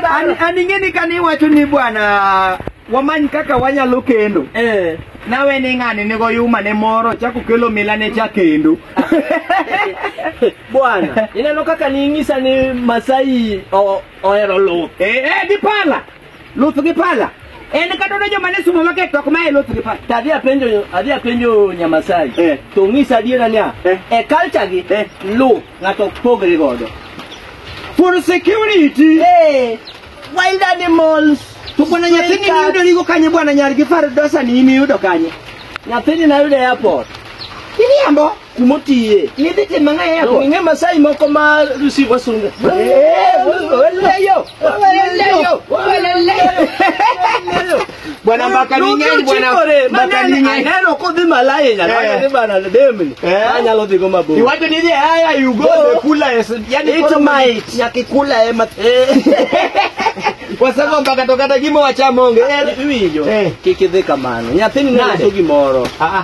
An- an ing'eni kane iwacho ni bwana wamany kaka wanyalo kendo Eh. nawe ni ng'ani nigo yuma ne moro chako kelo mila ne cha kendo Bwana, ineno kaka niing'isa ni Masai o- ohero luth. Eh, eh, dipala Luth gi pala. En kata ne joma ne sumo maket to ok mae luth gi pala. To adhi apenjo adhi apenjo Nyamasai. Eh. To ng'isa adiera niya, Eh. e culture gi Eh. luth ng'ato ok pogre godo. For security. Eh. Wild animals. To bwana nyathini Stray niyudo cats. nigo kanye bwana nyar gi far dosa ni imi yudo kanye. Nyathini nayudo e airport. Iriambo. kumotiye nidhi time ang'o e donge airport ing'e masai moko ma receive wasunge waleyo waleyo waleyo bwana mbaka ni ng'eny bwana mbaka ni ng'eny aneno kodhi malaya nyalo Eh. wadhi bana demni Eh. anyalo dhigo mabor iwacho ni haya you go Go. the kula is yani It koro might. nyaka ikula ema kwa sababu mpaka tokata gimo wachamonge eh iwinjo Eh. kik idhi kamano nyathini Nade? noso gimoro ah ah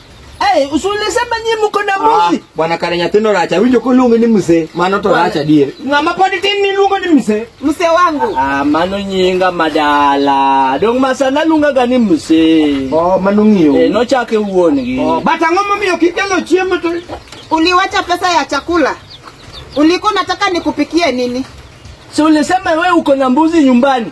Hey, usulisema nyi mko na Ah, muzi. bwana Karenya tino racha winjo kuluonge ni mzee mano to racha dier. Ng'ama pod tin ni luongo ni mse. Mse wangu. Ah, mano nyinga madala. Dong masana lunga gani mse. Oh, mano ng'iyo. Eh, nochake wuongi. Oh, but ang'o momiyo kikelo chiemo to Uliwacha pesa ya chakula. Ulikuwa unataka nikupikie nini? Si ulisema we uko na mbuzi nyumbani.